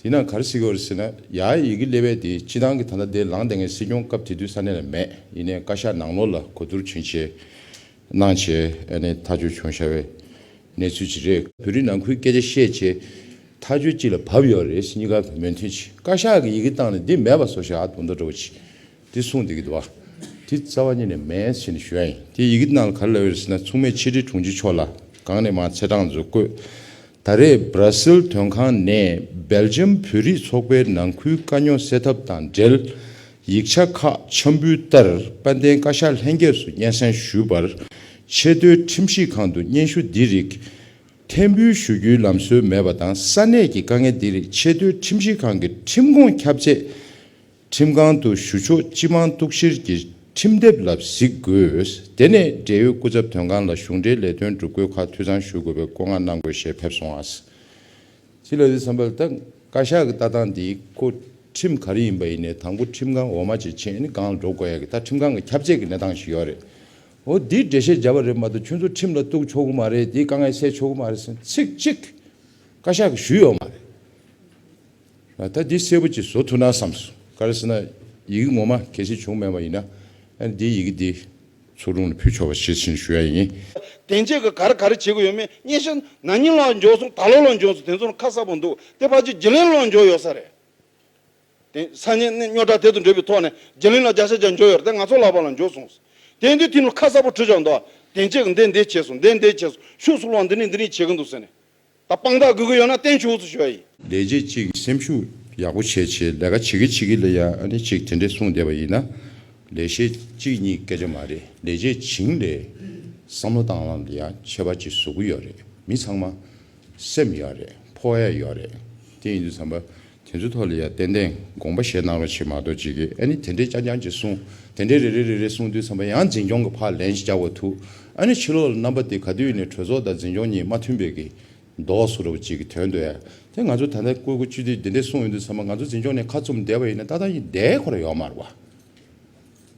དེས་ན་གར་སྲིད་གོར་སྲིད་ན་ཡང་ཡི་གེ་སླེ་བས་དེ་སྤྱི་བཏང་གི་ད་ལྟ་དེ་ལངས་དེ་སྔའི་སྲིད་སྐྱོང་སྐབས་དེ་དུས་ས་གནས་ལ་མེད་ཡིན་ནའི་བཀའ་ཤག་ནང་ལོགས་ལ་གོ་བསྡུར་བྱིན་བྱས་གནང་བྱས་ཨ་ནས་ཐག་གཅོད་བྱུང་ཤ་བའི་གནས་ཚུལ་ཅིག་རེད། བོད་རིགས་ནང་ཁུལ་སྐད་ཆ་བཤད་བྱས་ཐག་གཅོད་ཅིག་ལ་བབས་ཡོད་རེད་སྙི་ག་བོད་མོས་མཐུན་ཅིག་བཀའ་ཤག་གི་ཡི་གེ་བཏང་ནས་འདི་མེད་པ་བཟོ་ཤ་ཨ་དོ་མདོ་འདྲ་བོ་ཅིག་དེ་གསུངས་འདི་གི་འདུག་བ། དེ་རྩ་བ་ཉིད་ནས་མེད་ཡན་ཕྱིན་ཞུ་ཡ་ཡིན། དེ་ཡི་གི་ནང་ལ་ག་རེ་ལབ་ཡོད་ཟེར་ན་མཚུངས་མེད་ཕྱི་དྲིལ་དྲུང་ཆེ་མཆོག་ལ་གང་ནས་མ་ཚེ་གྲངས་མཛོད་བཀོད། ད་རེས Brazil དོན་ཁང་ནས Belgium བོད་རིགས་ཚོགས་པའི་ནང་ཁུལ་དཀའ་རྙོག་སེལ་ཐབས་དང་འབྲེལ་ཡིག་ཆ་ཁག་འཆམ་འབུལ་ལྟར་དཔལ་ལྡན་བཀའ་ཤག་ལྷན་རྒྱས་སུ་སྙན་སེང་ཞུས་པར། ཆེས་མཐོའི་ཁྲིམས་ཞིབ་ཁང་དུ་སྙན་ཞུ་འདི་རིགས་འཐེན་འབུལ་ཞུ་རྒྱུའི་ལམ་སྲོལ་མེད་པ་དང་ས་གནས་ཀྱི་དཀའ་ངལ་འདི་རིགས་ཆེས་མཐོའི་ཁྲིམས་ཞིབ་ཁང་གི་ཁྲིམས་ཁོངས་ཁྱབ་ཆེད་ཁྲིམས་ཁང་དུ་ཞུ་ཕྱོགས་སྤྱི་མང་གཏུག་བཤེར་གྱི་ཁྲིམས་དེབ་ལ་གཟིགས་དགོས། དེ་ནས་འབྲེལ་ཡོད་སྐུ་ཚབ་དོན་ཁང་ལ་གཞུང་འབྲེལ་ལས་དོན་སྒྲུབ་དགོས་ཁག་འཐུས་ཚང་ཞུ་དགོས་པའི་བཀོད་མངགས་གནང་དགོས་ཞེས་ཕེབས་སོང་ཨཱ། ཅི་ལ་ཟེར་བསམ་པ་ལ་ད་བཀའ་ཤག་གི་ལྟ་སྟངས་འདིའི་སྐོར་ཁྲིམས་ག་རེ་ཡིན་པ་ཡིན་ནའི་དང་པོ་ཁྲིམས་ཁང་འོག་མ་ཇེ་ཆེ་ནས་སྒང་ལ་འགྲོ་དགོས་ཡ་གི་ད་ཁྲིམས་ཁང་གི་ཁྱབ་བྱེད་ཀྱི་གནས་སྟངས་ཤིག་ཡོད་རེད། འོ་འདིའི་འགྲེལ་བཤད་བརྒྱབ་པ་རེད་མ་གཏོགས་ཁྱོད་ཚོ་ཁྲིམས་ལ་གཏུག་ཆོག་གི་མ་རེད་དེའི་དཀའ་ངལ་སེལ་ཆོག་གི་མ་རེད་ཟེར་ཚིག་གཅིག་བཀའ་ཤག་གིས་ཞུས་ཡོད་མ་རེད། ད་འདི་གསལ་པོ་གཅིག་བཟོ་ཐུབ་ན་བསམ་སོང། ག་རེ་ཟེར་ན། ཡི་གེ་ངོ་མ་གལ་ཆེན་བྱུང་མེད་པ་ཡིན་ན། ཨ་འདིའི་ཡི་གེ་འདི། ཚོགས་དྲུང་ལ་ཕུལ་ཆོག་པ་ཞེས་ཕྱིན་ཞུ་ཡ་ཡིན། དེ་འབྱེད་གི་ག་རེ་ག་རེ་བྱེད་དགོས་ཡོད་མེད་སྙན་ཤལ། ན་ནིང་ལོག་འཇོག་སོང་ད་ལོ་ལོག་འཇོག་སོང་དེ་ཚོ་ནི་ཁ་གསལ་པོ་འདུག་དེ་ཕར་ཆེར་རྗེ་གླིང་ལོག་འཇོག་ཡོད་ས་རེད། དེ་ས་གནས་གནས་སྨྱོ་དྲག་དེ་ཚོ་འདྲེས་པའི་ཐོག་ནས་རྗེ་གླིང་ལ་རྒྱ་ཤ་རྒྱ་འཇོག་ཡོད་རེད་དེ་ང་ཚོ་ལག་པ་ལ་འཇོག་སོང། དེ་འདི་དེ་ནི་ཁ་གསལ་པོ་བྲིས་ཆོག་འདུག་དེ་འབྱེད་གི་འདི་འདི་བྱས་སོང་འདི་འདི་བྱས་སོང་ཤུགས་སུ་ལོག་འདི་ནི་འདི་རིང་བྱེད་ཀྱི་འདུག་ཟེར་ནས་ད་དཔང་རྟགས་དགོས་གི་ཡོད་ན་བསྟན་བྱུང་ཚུལ་ཞུ་བ་ཡིན། ལས་བྱེད་གཅིག་གིས་སེམས་ཤུགས་ཡག་པོ་བྱེད་བྱེད་ལས་ཀ་བྱེད་གི་བྱེད་གི་ལ་ཡ་ཨ་ནི་ཅིག་དེ་འདྲས་གསུངས་བསྡད་པ་ཡིན་ན་ལས་བྱེད་གཅིག་གཉིས་སྐད་ཆ་མ་རེད་ལས་བྱེད་བྱིངས་ལས་བསམ་བློ་བཏང་ལམ་ལ་ཡ་ཁྱད་པར་གྱི་ཟུག་གི་ཡོད་རེད་མི་ཚང་མ་སེམས་ཡག་རེད་ཕོ་ཡ་ཡོད་རེད་དེ་ཡིན་དུས་བསམ་པ་དེ་ཚོའི་ཐོག་ལ་ཡང་ཏན་ཏན་དགོངས་པ་བཞེས་གནང་རོགས་བྱེད་མ་གཏོགས་ཅི་དགོས་ཨ་ནི་དེ་འདྲས་རྐྱང་རྐྱང་ཅིག་གསུང་དེ་འདྲས་རེ་རེ་རེ་རེ་གསུང་དུས་ཚང་མ་ཡང་འཛིན་སྐྱོང་གི་ཕག་ལེན་ཅིག་རྒྱག་པ་ཐུག་ཨ་ནི་ཕྱི་ལོག་ལ་རྣམ་པ་དེ་ག་དུས་ནས་གྲོས་ཚོགས་དང་འཛིན་སྐྱོང་གཉིས་མ་མཐུན་པའི་གི་འདོགས་སུ་རུ་བ་ཅིག་གི་དོན་དུ་ཨ་དེ་ང་ཚོ་ད་ལྟ་བཀོད་བཀོད་ཅུས་དེ་འདྲས་གསུང་ཡོང་དུས་ཚང་མ་ང་ཚོ་འཛིན་སྐྱོང་ནས་ཁ་བཙུམ་བསྡད་པ་ཡིན་ན་ཏག་ཏག་ཡིན་བསྡད་ཁོ་ར་ཡོག་མ་རུ་བ།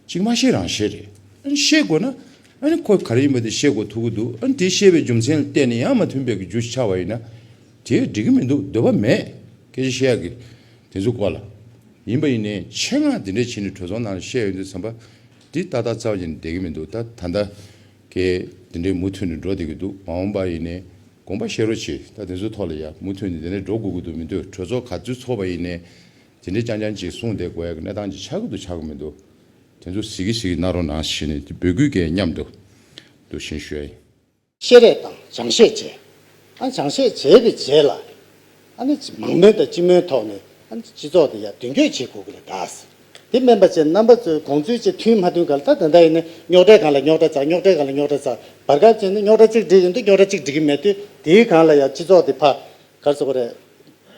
གཅིག་མ་ཤེས་རང་ཤེས་རེད། ཤེས་དགོས་ན། ཁོས་ག་རེ་ཡིན་པ་དེ་ཤེས་དགོས་ཐུག་གི་འདུག་དེ་ཤེས་པའི་རྒྱུ་མཚན་ལ་བལྟས་ནས་ཡང་མ་མཐུན་པའི་རྒྱུ་ཞིག་ཆགས་པ་ཡིན་ན། དེ་འགྲིག་གི་མི་འདུག་འདོད་པ་མེད། སྐད་ཆ་བཤད་ཡག་གི། དེ་ཚོའི་སྐོར་ལ། ཡིན་པ་ཡིན་ནའི་ཆེད་མངགས་དེ་འདྲས་བྱས་ནས་གྲོས་ཚོགས་ནང་ལ་བཤད་ཡོང་དུས་བསམ་པ། འདི་ཏག་ཏག་ཙམ་གྱིས་ནི་བསྡད་ཀྱི་མི་འདུག་ད་ད་ལྟ། ཀྱེ། དེ་འདྲས་མུ་མཐུད་ནས་འགྲོ་བསྡད་ཀྱི་འདུག་མ་འོངས་པ་ཡིན་ནའི། དགོངས་པ་བཤད་རོགས་གྱིས་ད་དེ་ཚོའི་ཐོག་ལ་ཡ་མུ་མཐུད་ནས་དེ་འདྲས་འགྲོ་དགོས་ཀྱི་འདུག་མི་འདོད་གྲོས་ཚོགས་ག་ཚོད་ཚོགས་པ་ཡིན་ནའི། དེ་འདྲའི་རྐྱང་རྐྱང་ཅིག་གསུངས་དེ་གོ་ཡ་གི་གནས་སྟངས་ཅིག་ཆགས་ཀྱི་འདུག་ཆགས་ཀྱི་མི་འདུག་དེ་ཚོ་ཟིག་གི་ཟིག་གི་གནང་རོགས་གནང་ཞེས་ནས་འདི་འབོད་སྐུལ་སྐད་མཉམ་དུ་འདུ་ཤེས་ཞུ་ཡ་ཡིན། བཤད་རེས་དང་སྦྱང་བཤད་བྱས། ཨ་ནི་སྦྱང་བཤད་བྱས་པའི་རྗེས་ལ། ཨ་ནི་མང་མོས་དང་སྤྱི་མོས་ཐོག་ནས་ཨ་ནི་སྤྱི་ཚོགས་དེ་ཡར་མདུན་སྐྱོད་བྱེད་དགོས་ཀྱི་རེད་གདའ། དེ་སྨན་པ་བཅས་རྣམ་པ་ཚོའི་དགོངས་ཚུལ་བཅས་མཐུན་མ་མཐུན་ག་ལ་ད་དེ་འདྲ་ཡིན་ན་རྙོག་གྲའི་གང་ལ་རྙོག་གྲ་ཚགས་རྙོག་གྲའི་གང་ལ་རྙོག་གྲ་ཚགས་བར་སྐབས་ཅིག་ནས་རྙོག་གྲ་གཅིག་འགྲིག་ཡིན་དུས་རྙོག་གྲ་གཅིག་འགྲིག་གི་མེད་དུས་དེའི་གང་ལ་ཡང་སྤྱི་ཚོགས་དེ་ཕ་ག་ཚོད་ཀ་རེད།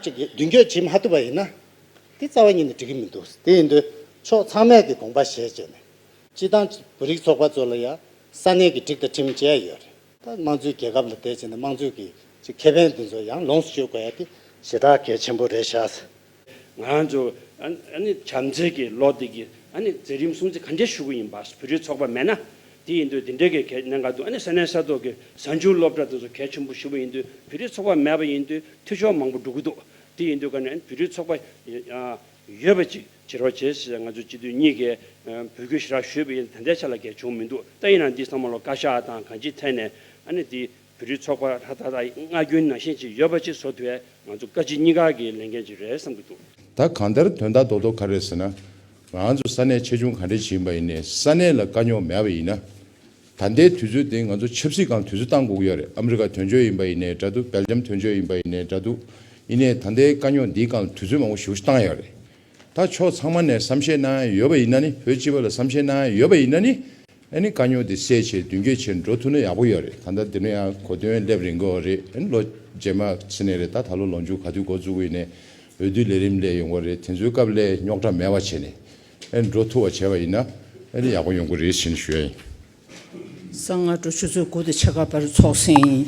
གཅིག་གིས་མདུན་སྐྱོད་བྱེད་མ་ཐུབ་པ་ཡིན་ན། དེ་རྩ་བ་ཉིད་ནས་འགྲིག་གི་མི་འདུག་དེ་ཡིན་དུས་ཕྱོགས་ཚང་མས་དེ་དགོངས་པ་བཞེས་བྱས་ནས། སྤྱི་བཏང་བོད་རིགས་ཚོགས་པ་ཚོ་ལ་ཡང་ས་གནས་ཀྱི་སྒྲིག་དང་ཁྲིམས་བཅས་ཡོད་རེད། ད་དམངས་གཙོའི་རྒྱལ་ཁབ་ལ་དེ་བྱས་ན་དམངས་གཙོའི་གི་ཁེ་ཕན་དེ་ཚོ་ཡང་ལོངས་སུ་སྤྱོད་དགོས་ཡ་དེ། ཞེ་དྲག་གལ་ཆེན་པོ་རེད་ཤག། ང་ཚོ་བྱམས་བརྩེ་གི་ལོ་དེ་གི་མཛད་རིམ་སྲུང་བརྩི་ག་འདྲས་ཞུ་གི་ཡིན་པ་བོད་རིགས་ཚོགས་པ་མེད་ན་དེ་ཡིན་དུས་དེ་འདྲའི་གི་གནད་འགག་དུས་ས་གནས་ས་ཐོག་གི་གཟའ་འཇུག་སློབ་གྲྭ་དེ་ཚོ་གལ་ཆེན་པོ་ཞུ་བ་ཡིན་དུས་བོད་རིགས་ཚོགས་པ་མེད་པ་ཡིན་དུས་འཐུས་ཤོར་མང་པོ་འགྲོ་གི་འདུག་དེ་ཡིན་དུས་ག་ནས་བོད་རིགས་ཚོགས་པ་ཡོད་པ་ཅིག་བྱེད་རོགས་བྱེད་ཞེས་ང་ཚོ་སྤྱི་འཐུས་གཉིས་ཀས་འབོད་སྐུལ་ཞུས་ར་ཞུས་པ་ཡིན་དེ་འདྲའི་ཆ་ལ་གལ་བྱུང་མི་འདུག་ད་ཡིན་ན་འདི་ཚང་མ་ལོ་བཀའ་ཤག་དང་གང་ཅིའི་ཐད་ནས་དེ་བོད་རིགས་ཚོགས་པ་ལྷ་ད་ལྟ་སྔ་རྒྱུན་ནང་བཞིན་ཅིག་ཡོད་པ་ཅིག་བཟོ་དུས་ང་ཚོ་བཀའ་སྤྱི་གཉིས་ཀ་གི་ལས་འགན་ཅིག་རེད་བསམ་གྱི་འདུག། ད་གང་ལྟར་དོན་དག་རྡོག་རྡོག་ག་རེད་ཟེར་ན། ང་ཚོ་ས་གནས་ཆེ་ཆུང་ག་འདྲའི་ཞིག་ཡིན་པ་ཡིན་ནས་ས་གནས་ལ་དཀའ་རྙོག་མེད་པ་ཡིན་ན། ད་ལྟའི་དུས་ཚོད་དེ་ང་ཚོ་ཆབ་སྲིད་གང་དུས་ཚོད་བཏང་འགུག་ཡོད་རེད་ཨ་མི་རི་ཀ་དོན་གཅོད་ཡིན་པ་ཡིན་ནས་འདྲ་འདུག་སྦེལ་ཇམ་དོན་གཅོད་ཡིན་པ་ཡིན་ནས་འདྲ་འདུག་ཡིན་ནས་ད་ལྟའི་དཀའ་རྙོག་འདིའི་གང་ལ་དུས་ཚོད་མང་པོ་ཞུགས་ཤིག་བཏང་ཡག་རེད། ད་ཕྱོགས་ཚང་མ་ནས་བསམ་ཤེས་གནང་ཡག་ཡོད་པ་ཡིན་ན་ནི་བོད་སྤྱི་བ་ལ་བསམ་ཤེས་གནང་ཡག་ཡོད་པ་ཡིན་ན་ནི། ཨ་ནི་དཀའ་རྙོག་དེ་སེལ་ཆེད་མདུན་སྐྱོད་བྱེད་འགྲོ་ཐུབ་ན་ཡག་པོ་ཡོད་རེད་ད་ལྟ་འདི་ནས་ཡང་གོ་དོན་སླེབས་རིན་གོ་རེད་ཨ་ནི་ལོ་རྗེས་མ་ཚུན་ནས་རེད་ད་ད་ལོ་ལོ་མཇུག་ག་དུས་འགོ་བཙུགས་དབུས་ནས་འོས་བསྡུ་ལས་རིམ་ལས་ཡོང་གོ་རེད་དེ་ཚོའི་སྐབས་སླད་རྙོག་དྲ་མེད་པ་བྱས་ནས་ཨ་ནི་འགྲོ་ཐུབ་པ་བྱས་པ་ཡིན་ན་ཨ་ནི་ཡག་པོ་ཡོང་གོ་རེད་བྱས་ནས་ཞུ་ཡ་ཡིན། གསང་སྔགས་འགྲོ་ཆུ་ཚོད་དགུ་དེ་ཕྱེད་ཀ་བར་ཚོགས་ཟིན།